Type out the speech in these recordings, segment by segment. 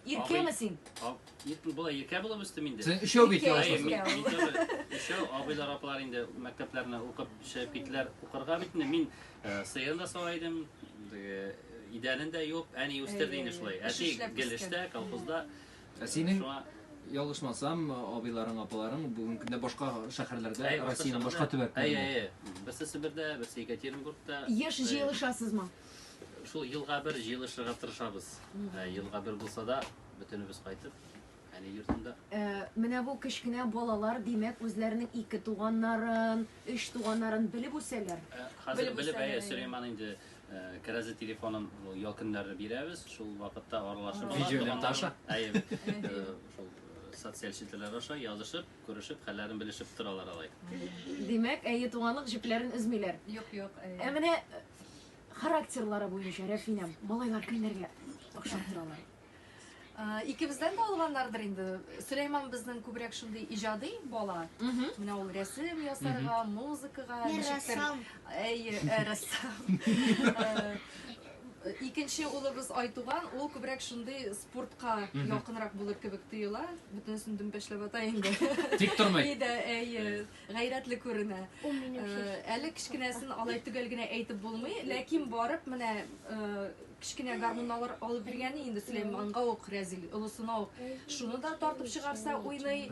Иркәме син? Иркә була, иркә булып үстем инде. Син өчәү бит ялгыз. Өчәү абыйлар апалар инде мәктәпләрне укып чыгып китләр укырга бит инде. Мин э, сыен да сала идем. Э, Идәнен дә юып, әни үстерде инде шулай. Әти гел эштә, колхозда. Ә синең ялгышмасам, абыйларың, апаларың бүгенге көндә башка шәһәрләрдә, Россиянең башка төбәкләрендә. Әйе, әйе. Берсе Себердә, берсе Екатеринбургта. Еш җыелышасызмы? Шул елга бер җыелышырга тырышабыз. Ә, Елга бер булса да, бөтенебез кайтып, әни йортында. Ә, Менә бу кечкенә балалар, димәк, үзләренең ике туганнарын, өч туганнарын белеп үсәләр. Ә, Хәзер Белеп белеп, үсәләр, әйе, әйе. Сөләйман инде ә, кәрәзле телефонын ул ял көннәрне бирәбез, шул вакытта аралашып ала. Видеолента аша. Әйе, ә, шул э, социаль челтәрләр аша язышып, күрешеп, хәлләрен белешеп торалар алай. Димәк, әйе, туганлык җепләрен өзмиләр. Юк, юк. Ә менә э, характерлары буенча Рәфинә, малайлар кемнәргә охшап торалар? Икебездән дә алганнардыр инде. Сөләйман безнең күбрәк шундый иҗади бала. Менә ул рәсем ясарга, музыкага, ничектер. Әйе, рәссам. Икенче улыбыз Айтуган, ул күбрәк шундый спортка якынрак булыр кебек тоела. Бөтенесен дөмбәшләп ата инде. Тик тормый. Әйе. гайрәтле күренә. Әле кечкенәсен алай төгәл генә әйтеп булмый, ләкин барып менә кечкенә гармунналар алып биргәне инде Сөләйманга ук Рәзил олысына ук. Шуны да тартып чыгарса уйный,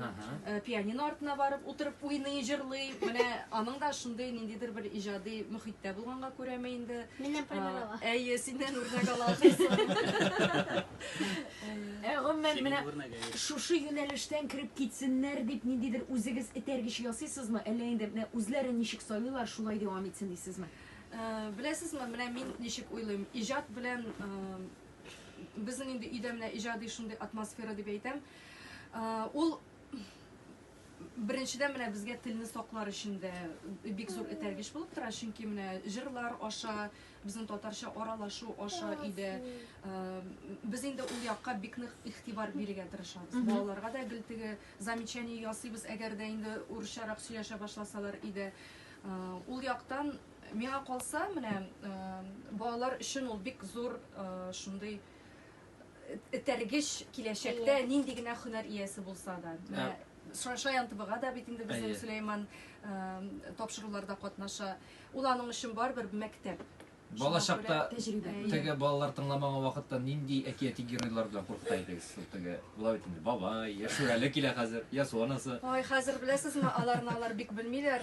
пианино артына барып утырып уйный, җырлый. Менә аның да шундый ниндидер бер иҗади мөхиттә булганга күрәме инде. Миннән пример ала. Әйе, синнән үрнәк ала. Ә гомумән менә шушы юнәлештән кереп китсеннәр дип ниндидер үзегез этәргеч ясыйсызмы, әллә инде менә үзләре ничек сайлыйлар, шулай дәвам итсен дисезме? Беләсезме, менә мин ничек уйлыйм, иҗат белән безнең инде өйдә менә иҗади шундый атмосфера дип әйтәм. Ул Беренчедән, менә безгә телне саклар өчен дә бик зур этәргеч булып тора, чөнки менә җырлар аша, безнең татарча аралашу аша өйдә без инде ул якка бик нык игътибар бирергә тырышабыз. Балаларга да гел теге замечание ясыйбыз, әгәр дә инде урысчарак сөйләшә башласалар өйдә. Ул яктан миңа калса, менә балалар өчен ул бик зур шундый этәргеч киләчәктә yeah. нинди генә һөнәр иясе булса да. Yeah. Шаян ТВга да бит инде безнең Сөләйман тапшыруларда катнаша. Ул аның өчен барбер мәктәп. Балачакта теге балалар тыңламаган вакытта нинди әкияти геройлар белән куркыта идегез? Теге була бит инде бабай, яшүрәле килә хәзер, ясу анасы. Ой, хәзер беләсезме, аларны алар бик белмиләр.